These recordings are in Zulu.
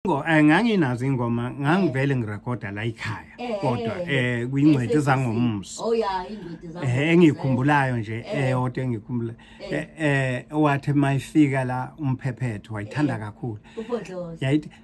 Ngo eh, nganginazo ingoma ngangivele ngirekoda la ikhaya Eh, eh, kodwa eh, eh. eh kwingcweti Yes, zangomso Oh ya, ingcweti zango. eh engikhumbulayo nje eyodwa engikhumbula eh eh wathi mayifika la umphephetho wayithanda kakhulu Ubhodloza. yayithi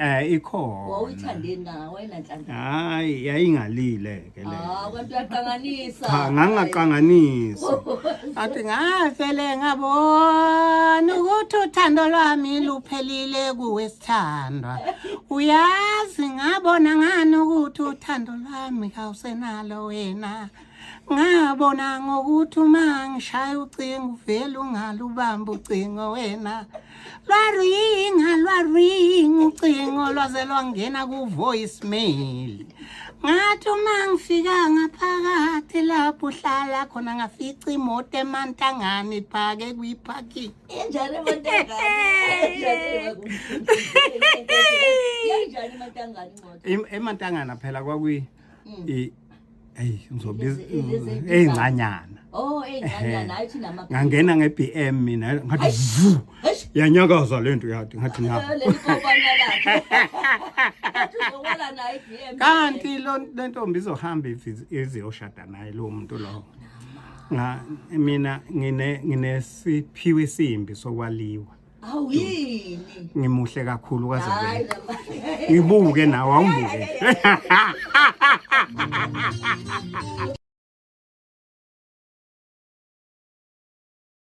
Eh ikhona. Wawuthandeni kanga wena nhlanhla? Hayi yayingalile ke le. Ah kanti uyaqanganisa. Cha ngangaqanganisa. Athi ngafele ngabona ukuthi uthando lwami luphelile kuwesithandwa. Uyazi ngabona ngani ukuthi uthando lwami kawusenalo wena. ngabona ngokuthi uma ngishaya ucingo uvele ungalubamba ucingo wena lwaringa lwaringa ucingo lwaze lwangena ku-voice mail ngathi uma ngifika ngaphakathi lapho uhlala khona ngafica imoto emantangane iphake kwi-parking injani emantangane phela kwakwi Mm. I hey ngizobiza ezincanyana. Oh ezincanyana ayithi nama. Ngangena ngeBM mina ngathi vu. Yanyakaza lento yathi ngathi na. Kanti lo lentombi izohamba iziyoshada naye lo muntu lo. Nga mina ngine nginesiphiwe simbi sokwaliwa. Awu yini? Ngimuhle kakhulu kaze Hayi vele. baba. Ngibuke nawe awungibuke.